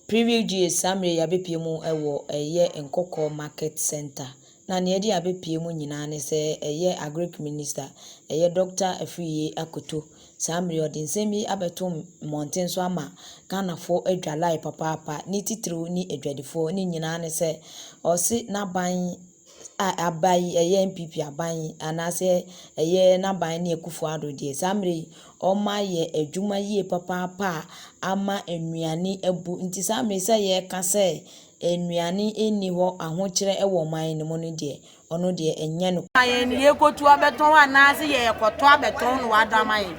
Preview GA, Saa mmerɛ yi abɛpue mu wɔ ɛyɛ Nkɔkɔɔ Market Centre na nea ɛde abɛpue mu nyinaa ne sɛ ɛyɛ Agric Minister ɛyɛ Doctor Afriyie Akoto saa mmerɛ yi ɔde nsɛm yi abɛto mmɔnten so ama Ghanafoɔ adwa lae papaapa ne titiriw ne adwadifoɔ ne nyinaa ne sɛ ɔse n'aban a aba yi ɛyɛ NPP aban yi anaasɛ ɛyɛ n'aban ne Akufo Addo deɛ saa mmerɛ yi wɔayɛ adwuma yie papaapa a ama nnuane abu nti saa mmerɛ yi sɛ yɛreka sɛ nnuane nni hɔ ahokyerɛ wɔ ɔman no mu no deɛ ɔno deɛ ɛnyɛ no. Ma yɛn yɛkɔtu abɛtɔn anaasɛ yɛkɔtɔ abɛtɔn na wada ama yɛn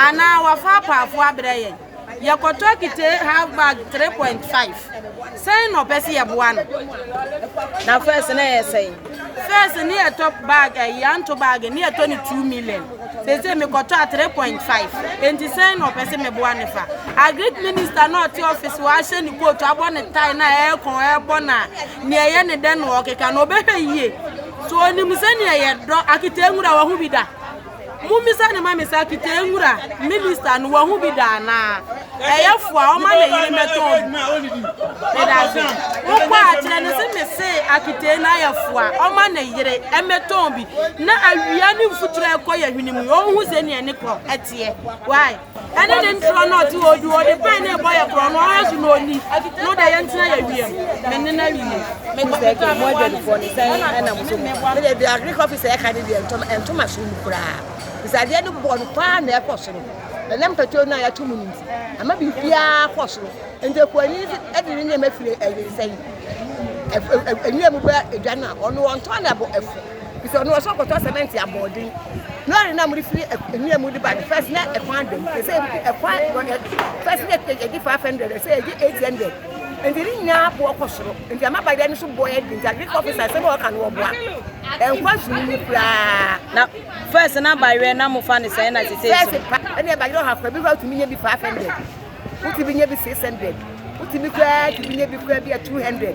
anaa wafa apaafoɔ abrɛ yɛn. Yɛkɔtɔ akite half bag 3.5. Sɛn na ɔpɛ sɛ yɛboa no? Na first na ɛyɛ sɛn? First ne yɛtɔ bag ɛyi eh, anto bag ne yɛtɔ ne 2 million. Sese mekɔtɔ a 3.5. Enti sɛn na ɔpɛ sɛ meboa no fa? Agric minister na ɔte office wɔ ahyɛ ne coat abɔ ne tie na ɛɛkɔn ɛɛbɔ na nea ɛyɛ ne dɛ na ɔkeka na ɔbɛhwɛ yie. So onim sɛnea yɛdɔ akite nwura wɔ ho bi da. Mommisa no ma me saa Kitee nwura minister no wahu bi da anaa? Ɛyɛ fo a ɔma ne yere mmɛtɔn bi. Medase. Wokɔ a kyerɛ no se mese Akitee no ayɛ fo a ɔma ne yere mmɛtɔn bi na awia ne mfuturo a ɛkɔ yɛ hwene mu yi ɔnhu sɛnea ne kɔ teɛ. Why? Ɛne ne ntorɔ na ɔte hɔ ɔdi hɔ ɔde pɛn na ɛbɔ yɛ korɔ no ɔha so na ɔni na ɔde yɛ ntena yɛ wiem me ne na wie. Mekɔpetɔɔ me boa ne so bi ɛna mo so mo ba. Medeɛ deɛ agric officer ɛka no deɛ ɛntɔ ɛnto m'asom mu koraa firi sɛ adeɛ no bɔ no paa na ɛkɔ soro ɛnam petrol no a yɛato mu no nti ama biribiara kɔ soro nti akuani ɛde ne nneɛma firi ɛyere sɛn ɛnwura mu ba adwa no a ɔno ɔntɔn na ɛbɔ ɛfo Nti ɔno ɔsɛ ɔkɔtɔ cement abɔɔden. Lɔre no a mode firi Anwia mu de ba no, first na ɛkwan da mu. Sɛ ɛkwan first na ɛgye 500, sɛ ɛgye 800. Nti ne nyinaa boɔ kɔ soro. Nti ama badeɛ no so boɔ yɛ den. Nti agric officer sɛ bɛ ɔka no ɔboa. Ɛnkɔ soro mu koraa. Na first na badeɛ na mo fa ne sɛn na sese so. First pa, ɛna badeɛ ɔha kɔ bi kɔ tumi nye bi 500. Wotumi nye bi 600. Wotumi kɔ tumi nye bi kɔ bi 200.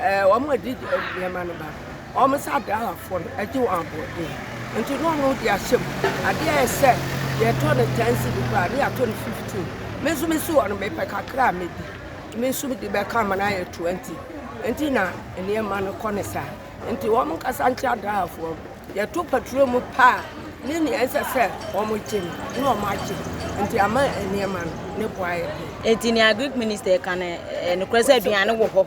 Ɛɛ, wɔn a wɔde nneɛma no ba, wɔn sɛ adrahwafoɔ no, ɛgye wɔn aboɔden. Nti na ɔno de ahyɛ mu. Adeɛ a ɛsɛ yɛtɔ no ten cedi koraa ne yɛatɔ no fifteen. Me nso mesi hɔ no mepɛ kakra a medi. Me nso mede bɛka ma no ayɛ twenty. Nti na nneɛma no kɔ ne saa. Nti wɔn nkasa nkyɛ adrahwafoɔ no. Yɛto paturo mu pɛ a ne nea ɛsɛ sɛ wɔgye no na wɔn agye. Nti ama nneɛma no ne bo ayɛ den. Nti nea Greek minister ka no, ɛyɛ nokorɛ sɛ aduane wɔ hɔ.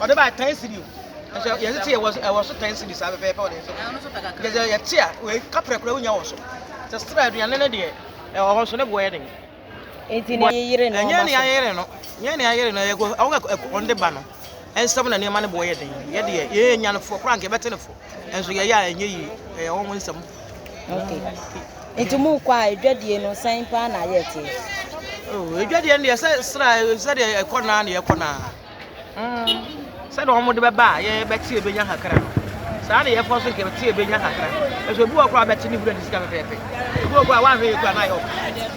ɔde ba ten cedi o ɛsɛ yɛde te ɛwɔ ɛwɔ so ten cedi saa pɛpɛɛpɛ ɔde nso yɛde yɛte a wei kaprɛ kura wonya wɔ so sɛ sra aduane no deɛ ɛwɔ hɔ so ne boɔ yɛ den nti ne yere no ɛnyɛ ne ayere no nyɛ ne ayere no ɛkɔ ɔwɔ ɛkɔ ɔde ba no ɛnsɛm na nneɛma no boɔ yɛ den yɛdeɛ yɛyɛ nyanefoɔ koraa nka yɛbɛte ne fo Nanso yɛyɛ a ɛnyɛ yie, ɛyɛ wɔn nsɛm. Okay. Nti mo kɔ a edwadie no sɛn paa na ayɛ te? Oh, edwadie no deɛ sɛ sra sɛdeɛ ɛkɔ naa na yɛkɔ naa. Mm. Sɛdeɛ wɔn de bɛba a yɛbɛte ebenya kakra no. Saa na yɛfa so nkɛbɛte ebenya kakra. Ɛso ebi wɔ koraa bɛte ne wura ne sika pɛpɛɛpɛ. Ebi wɔ koraa wɔanhwɛ yɛ koraa na ayɛ ɔka.